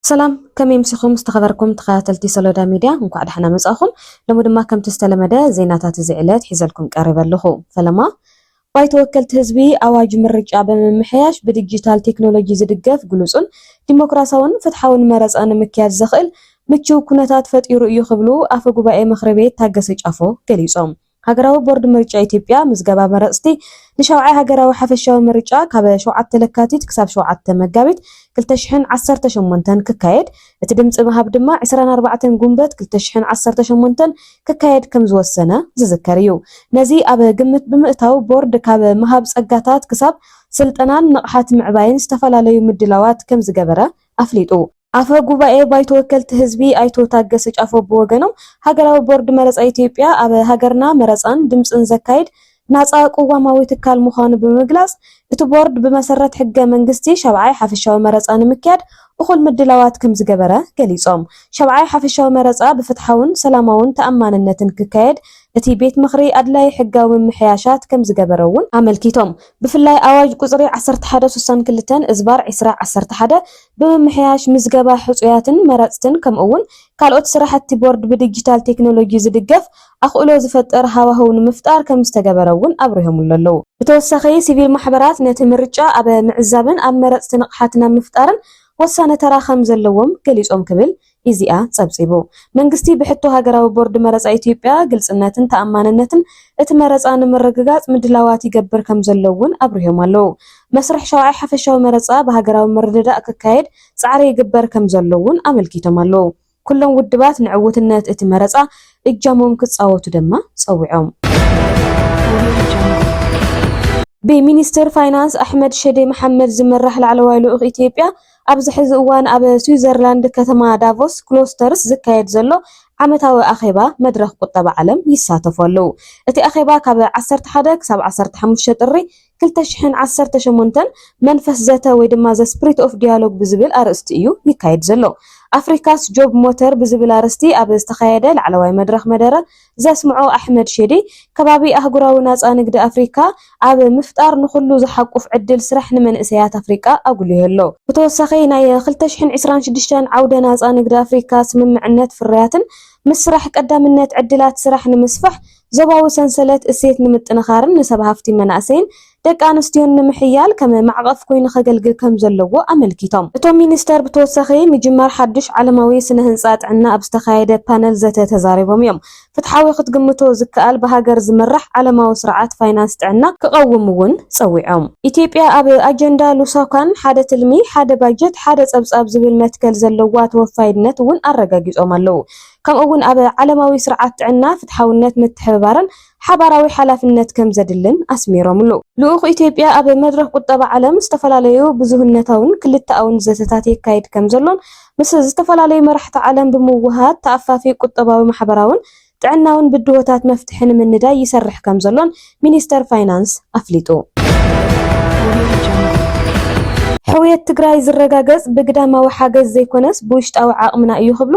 ሰላም ከመይ ምሲኹም ዝተኸበርኩም ተኸታተልቲ ሰሎዳ ሚድያ እንኳዕ ዳሕና መፃእኹም ሎሚ ድማ ከምቲ ዝተለመደ ዜናታት እዚ ዕለት ሒዘልኩም ቀሪበ ኣለኹ ፈለማ ባይቶ ወከልቲ ህዝቢ ኣዋጅ ምርጫ ብምምሕያሽ ብዲጂታል ቴክኖሎጂ ዝድገፍ ግሉፁን ዲሞክራሲያውን ፍትሓውን መረፃ ንምክያድ ዘኽእል ምችው ኩነታት ፈጢሩ እዩ ክብሉ ኣፈ ጉባኤ ምኽሪ ቤት ታገሰ ጫፎ ገሊፆም። ሃገራዊ ቦርድ ምርጫ ኢትዮጵያ ምዝገባ መረፅቲ ንሻውዓይ ሃገራዊ ሓፈሻዊ ምርጫ ካብ ሸውዓተ ለካቲት ክሳብ ሸውዓተ መጋቢት ክልተ ሽሕን ዓሰርተ ሸሞንተን ክካየድ እቲ ድምፂ ምሃብ ድማ ዕስራን ኣርባዕተን ጉንበት ክልተ ሽሕን ዓሰርተ ሸሞንተን ክካየድ ከምዝወሰነ ዝዝከር እዩ። ነዚ ኣብ ግምት ብምእታው ቦርድ ካብ ምሃብ ፀጋታት ክሳብ ስልጠናን ንቕሓት ምዕባይን ዝተፈላለዩ ምድላዋት ከምዝገበረ ኣፍሊጡ። ኣፈ ጉባኤ ባይቶ ወከልቲ ህዝቢ ኣይቶ ታገሰ ጫፎ ብወገኖም ሃገራዊ ቦርድ መረፃ ኢትዮጵያ ኣብ ሃገርና መረፃን ድምፅን ዘካይድ ናጻ ቅዋማዊ ትካል ምዃኑ ብምግላጽ፣ እቲ ቦርድ ብመሰረት ሕገ መንግስቲ ሻብዓይ ሓፈሻዊ መረጻ ንምክያድ እኹል ምድላዋት ከምዝገበረ ገሊጾም። ሻብዓይ ሓፈሻዊ መረጻ ብፍትሓውን ሰላማውን ተኣማንነትን ክካየድ እቲ ቤት ምኽሪ ኣድላዪ ሕጋዊ ምምሕያሻት ከምዝገበረ'ውን ኣመልኪቶም። ብፍላይ ኣዋጅ ቁጽሪ ዓሰርተ ሓደ ስሳን ክልተን እዝባር ዕስራ ዓሰርተ ሓደ ብምምሕያሽ ምዝገባ ሕጹያትን መረጽትን ከምኡ'ውን ካልኦት ስራሕቲ ቦርድ ብዲጂታል ቴክኖሎጂ ዝድገፍ ኣኽእሎ ዝፈጥር ሃዋህው ንምፍጣር ከምዝተገበረ እውን ኣብሪሆምሉ ኣለዉ። ብተወሳኺ ሲቪል ማሕበራት ነቲ ምርጫ ኣብ ምዕዛብን ኣብ መረፅቲ ንቕሓት ናብ ምፍጣርን ወሳኒ ተራ ከምዘለዎም ገሊፆም ክብል ኢዜኣ ፀብፂቡ። መንግስቲ ብሕቶ ሃገራዊ ቦርድ መረፃ ኢትዮጵያ ግልፅነትን ተኣማንነትን እቲ መረፃ ንምርግጋፅ ምድላዋት ይገብር ከምዘሎ እውን ኣብሪሆም ኣለዉ። መስርሕ ሻውዓይ ሓፈሻዊ መረፃ ብሃገራዊ ምርድዳእ ክካየድ ፃዕሪ ይግበር ከምዘሎ እውን ኣመልኪቶም ኣለዉ። ኩሎም ውድባት ንዕውትነት እቲ መረፃ እጃሞም ክፃወቱ ድማ ፀዊዖም። ብሚኒስትር ፋይናንስ ኣሕመድ ሸዴ መሓመድ ዝምራሕ ላዕለዋይ ልኡኽ ኢትዮጵያ ኣብዚ ሕዚ እዋን ኣብ ስዊዘርላንድ ከተማ ዳቮስ ክሎስተርስ ዝካየድ ዘሎ ዓመታዊ ኣኼባ መድረኽ ቁጠባ ዓለም ይሳተፉ ኣለው። እቲ ኣኼባ ካብ ዓሰርተ ሓደ ክሳብ ዓሰርተ ሓሙሽተ ጥሪ ክልተ ሽሕን ዓሰርተ ሸሞንተን መንፈስ ዘተ ወይ ድማ The Spirit of Dialogue ብዝብል ኣርእስቲ እዩ ይካየድ ዘሎ። ኣፍሪካስ ጆብ ሞተር ብዝብል ኣርእስቲ ኣብ ዝተኻየደ ላዕለዋይ መድረኽ መደረ ዘስምዖ ኣሕመድ ሼዴ ከባቢ ኣህጉራዊ ናፃ ንግዲ ኣፍሪካ ኣብ ምፍጣር ንኹሉ ዝሓቁፍ ዕድል ስራሕ ንመንእሰያት ኣፍሪቃ ኣጉሊሁ ኣሎ። ብተወሳኺ ናይ ክልተ ሽሕን ዕስራን ሽዱሽተን ዓውደ ናፃ ንግዲ ኣፍሪካ ስምምዕነት ፍርያትን ምስ ስራሕ ቀዳምነት ዕድላት ስራሕ ንምስፋሕ ዞባዊ ሰንሰለት እሴት ንምጥንኻርን ንሰብ ሃፍቲ መናእሰይን ደቂ ኣንስትዮን ንምሕያል ከም ማዕቐፍ ኮይኑ ከገልግል ከም ዘለዎ ኣመልኪቶም። እቶም ሚኒስተር ብተወሳኺ ምጅማር ሓዱሽ ዓለማዊ ስነ ህንፃ ጥዕና ኣብ ዝተኻየደ ፓነል ዘተ ተዛሪቦም እዮም። ፍትሓዊ ክትግምቶ ዝከኣል ብሃገር ዝምራሕ ዓለማዊ ስርዓት ፋይናንስ ጥዕና ክቐውም እውን ፀዊዖም። ኢትዮጵያ ኣብ ኣጀንዳ ሉሳካን ሓደ ትልሚ፣ ሓደ ባጀት፣ ሓደ ፀብፃብ ዝብል መትከል ዘለዋ ተወፋይነት እውን ኣረጋጊፆም ኣለው። ከምኡ'ውን ኣብ ዓለማዊ ስርዓት ጥዕና ፍትሓውነት ምትሕብባርን ሓባራዊ ሓላፍነት ከምዘድልን ኣስሚሮምሉ። ልኡኽ ኢትዮጵያ ኣብ መድረኽ ቁጠባ ዓለም ዝተፈላለዩ ብዙህነታውን ክልተኣውን ዘተታት የካይድ ከምዘሎን ምስ ዝተፈላለዩ መራሕቲ ዓለም ብምውህሃድ ተኣፋፊ ቁጠባዊ ማሕበራውን ጥዕናውን ብድሆታት መፍትሒ ንምንዳይ ይሰርሕ ከምዘሎን ሚኒስተር ፋይናንስ ኣፍሊጡ። ሕውየት ትግራይ ዝረጋገፅ ብግዳማዊ ሓገዝ ዘይኮነስ ብውሽጣዊ ዓቕምና እዩ ክብሉ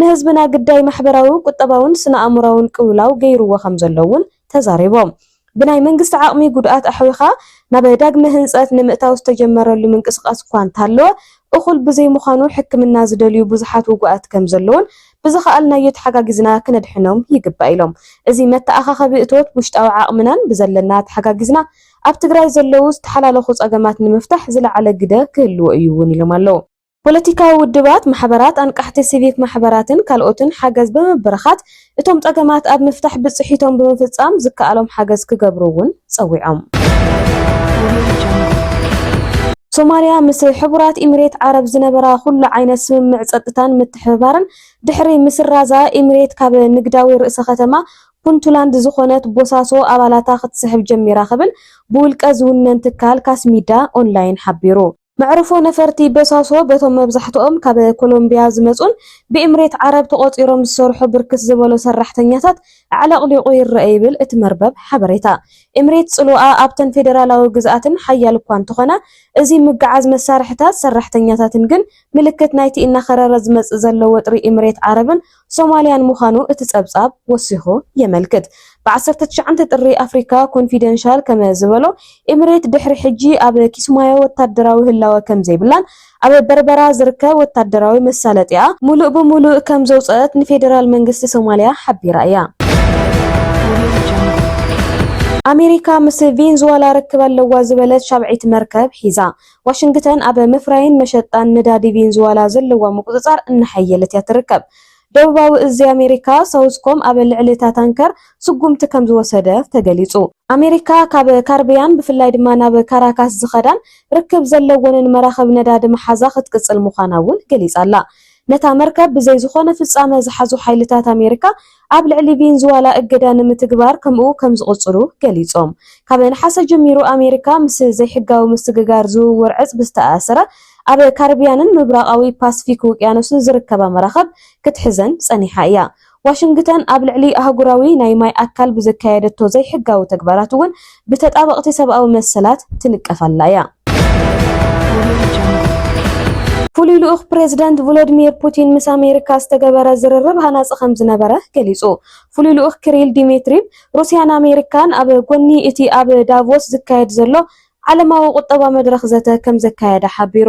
ንህዝብና ግዳይ ማሕበራዊ፣ ቁጠባውን ስነ-ኣእምሮኣውን ቅልውላው ገይሩዎ ከምዘሎ እውን ተዛሪቦም። ብናይ መንግስቲ ዓቕሚ ጉድኣት ኣሕዊኻ ናብ ዳግመ ህንፀት ንምእታው ዝተጀመረሉ ምንቅስቓስ እኳ እንተሃለወ እኹል ብዘይምዃኑ ሕክምና ዝደልዩ ብዙሓት ውጉኣት ከምዘለውን ብዝኸኣልናዮ ተሓጋጊዝና ክነድሕኖም ይግባእ ኢሎም። እዚ መተኣኻኸቢ እቶት ውሽጣዊ ዓቕምናን ብዘለና ተሓጋጊዝና ኣብ ትግራይ ዘለዉ ዝተሓላለኹ ፀገማት ንምፍታሕ ዝለዓለ ግደ ክህልዎ እዩ እውን ኢሎም ኣለው። ፖለቲካዊ ውድባት፣ ማሕበራት፣ ኣንቃሕቲ ሲቪክ ማሕበራትን ካልኦትን ሓገዝ ብምብርካት እቶም ፀገማት ኣብ ምፍታሕ ብፅሒቶም ብምፍፃም ዝከኣሎም ሓገዝ ክገብሩ እውን ፀዊዖም። ሶማሊያ ምስ ሕቡራት ኢሚሬት ዓረብ ዝነበራ ኩሉ ዓይነት ስምምዕ ፀጥታን ምትሕብባርን ድሕሪ ምስራዛ፣ ኢሚሬት ካብ ንግዳዊ ርእሰ ከተማ ፑንትላንድ ዝኾነት ቦሳሶ ኣባላታ ክትስሕብ ጀሚራ ክብል ብውልቀ ዝውነን ትካል ካስሚዳ ኦንላይን ሓቢሩ። መዕርፎ ነፈርቲ በሳሶ በቶም መብዛሕትኦም ካብ ኮሎምቢያ ዝመጹን ብኢምሬት ዓረብ ተቖጺሮም ዝሰርሑ ብርክት ዝበሉ ሰራሕተኛታት ኣዕለቕሊቑ ይረኣ ይብል እቲ መርበብ ሓበሬታ። ኢምሬት ጽልዋኣ ኣብተን ፌደራላዊ ግዝኣትን ሓያል እኳ እንተኾነ፣ እዚ ምግዓዝ መሳርሒታትን ሰራሕተኛታትን ግን ምልክት ናይቲ እናኸረረ ዝመጽእ ዘሎ ወጥሪ ኢምሬት ዓረብን ሶማልያን ምዃኑ እቲ ጸብጻብ ወሲኹ የመልክት። ብ ዓሰርተ ትሽዓተ ጥሪ ኣፍሪካ ኮንፊደንሻል ከም ዝበሎ፣ ኤምሬት ድሕሪ ሕጂ ኣብ ኪስማዮ ወታደራዊ ህላወ ከም ዘይብላን ኣብ በርበራ ዝርከብ ወታደራዊ መሳለጥያኣ ምሉእ ብምሉእ ከም ዘውጽኣት ንፌደራል መንግስቲ ሶማልያ ሓቢራ እያ። ኣሜሪካ ምስ ቬንዙዋላ ርክብ ኣለዋ ዝበለት ሻብዐይቲ መርከብ ሒዛ ዋሽንግተን ኣብ ምፍራይን መሸጣን ነዳዲ ቪንዙዋላ ዘለዋ ምቁጽጻር እናሓየለት እያ ትርከብ። ደቡባዊ እዚ ኣሜሪካ፣ ሳውዝኮም፣ ኣብ ልዕሊ እታ ታንከር ስጉምቲ ከም ዝወሰደ ተገሊጹ። ኣሜሪካ ካብ ካርብያን ብፍላይ ድማ ናብ ካራካስ ዝኸዳን ርክብ ዘለወንን መራኽብ ነዳዲ ምሓዛ ክትቅጽል ምዃና'ውን ገሊጻ'ላ። ነታ መርከብ ብዘይ ዝኾነ ፍጻመ ዝሓዙ ሓይልታት ኣሜሪካ ኣብ ልዕሊ ቪንዝዋላ እገዳ ንምትግባር ከምኡ ከም ዝቕጽሉ ገሊጾም። ካብ ነሓሰ ጀሚሩ ኣሜሪካ ምስ ዘይሕጋዊ ምስግጋር ዝውውር ዕጽ ብዝተኣኣሰራ ኣብ ካሪብያንን ምብራቓዊ ፓስፊክ ውቅያኖስን ዝርከባ መራኽብ ክትሕዘን ጸኒሓ እያ። ዋሽንግተን ኣብ ልዕሊ ኣህጉራዊ ናይ ማይ ኣካል ብዘካየደቶ ዘይሕጋዊ ተግባራት'ውን ብተጣበቕቲ ሰብኣዊ መሰላት ትንቀፍ ኣላ እያ። ፍሉይ ልኡኽ ፕሬዝደንት ቮሎድሚር ፑቲን ምስ ኣሜሪካ ዝተገበረ ዝርርብ ሃናፂ ከምዝነበረ ገሊፁ። ፍሉይ ልኡኽ ክሪል ዲሚትሪቭ ሩሲያን ኣሜሪካን ኣብ ጎኒ እቲ ኣብ ዳቮስ ዝካየድ ዘሎ ዓለማዊ ቁጠባ መድረኽ ዘተ ከምዘካየዳ ሓቢሩ።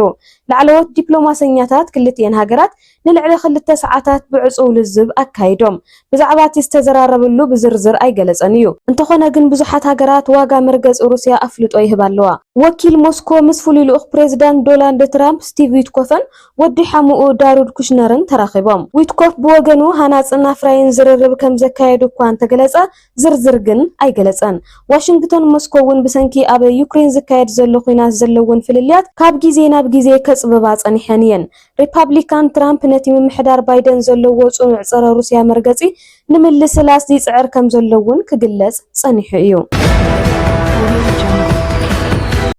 ላዕለዎት ዲፕሎማሰኛታት ክልቲኤን ሃገራት ንልዕሊ ክልተ ሰዓታት ብዕጹው ልዝብ ኣካይዶም። ብዛዕባ እቲ ዝተዘራረብሉ ብዝርዝር ኣይገለጸን እዩ። እንተኾነ ግን ብዙሓት ሃገራት ዋጋ መርገጺ ሩስያ ኣፍልጦ ይህባ ኣለዋ። ወኪል ሞስኮ ምስ ፍሉይ ልኡኽ ፕሬዝዳንት ዶላንድ ትራምፕ ስቲቭ ዊትኮፍን ወዲ ሓሙኡ ዳሩድ ኩሽነርን ተራኺቦም። ዊትኮፍ ብወገኑ ሃናጽን ኣፍራይን ዝርርብ ከም ዘካየዱ እኳ እንተገለጸ ዝርዝር ግን ኣይገለጸን። ዋሽንግቶን ሞስኮ እውን ብሰንኪ ኣብ ዩክሬን ዝካየድ ዘሎ ኲናት ዘለወን ፍልልያት ካብ ግዜ ናብ ግዜ ከጽብባ ጸኒሐን እየን። ሪፓብሊካን ትራምፕ ነቲ ምምሕዳር ባይደን ዘለዎ ጽኑዕ ጸረ ሩስያ መርገጺ ንምልስላስ ይጽዕር ከምዘሎ'ውን ክግለጽ ጸኒሑ እዩ።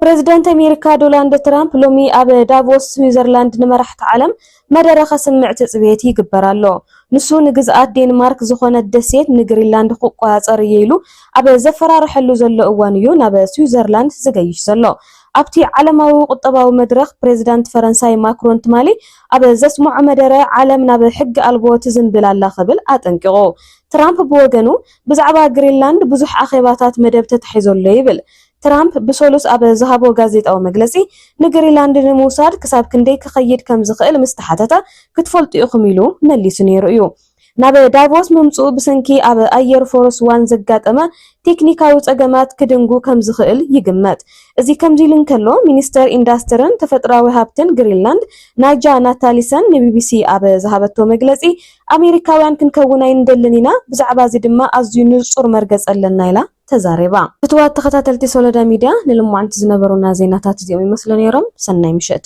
ፕረዚደንት ኣሜሪካ ዶላንድ ትራምፕ ሎሚ ኣብ ዳቮስ ስዊዘርላንድ ንመራሕቲ ዓለም መደረ ከስምዕ ትጽብት ይግበር ኣሎ። ንሱ ንግዝኣት ዴንማርክ ዝኾነት ደሴት ንግሪንላንድ ክቆጻጸር እየ ኢሉ ኣብ ዘፈራርሐሉ ዘሎ እዋን እዩ ናብ ስዊዘርላንድ ዝገይሽ ዘሎ። ኣብቲ ዓለማዊ ቁጠባዊ መድረኽ ፕሬዚዳንት ፈረንሳይ ማክሮን ትማሊ ኣብ ዘስመዖ መደረ ዓለም ናብ ሕጊ ኣልቦ ትዝምብል ኣላ ክብል ኣጠንቂቑ። ትራምፕ ብወገኑ ብዛዕባ ግሪንላንድ ብዙሕ ኣኼባታት መደብ ተታሒዙ ኣሎ ይብል። ትራምፕ ብሰሉስ ኣብ ዝሃቦ ጋዜጣዊ መግለጺ ንግሪላንድ ንምውሳድ ክሳብ ክንደይ ክኸይድ ከምዝኽእል ምስተሓተተ ክትፈልጡ ኢኹም ኢሉ መሊሱ ነይሩ እዩ። ናብ ዳቮስ ምምጽኡ ብሰንኪ ኣብ ኣየር ፎርስ ዋን ዘጋጠመ ቴክኒካዊ ጸገማት ክድንጉ ከም ዝኽእል ይግመት። እዚ ከምዚ ኢሉ እንከሎ፣ ሚኒስተር ኢንዳስትርን ተፈጥሮኣዊ ሃብትን ግሪንላንድ ናይጃ ናታሊሰን ንቢቢሲ ኣብ ዝሃበቶ መግለጺ፣ ኣሜሪካውያን ክንከውን ኣይንደልን ኢና፣ ብዛዕባ እዚ ድማ ኣዝዩ ንጹር መርገጺ ኣለና ኢላ ተዛሪባ። ፍቱዋት ተኸታተልቲ ሶሎዳ ሚድያ፣ ንልሞዓንቲ ዝነበሩና ዜናታት እዚኦም ይመስሉ ነይሮም። ሰናይ ምሽት።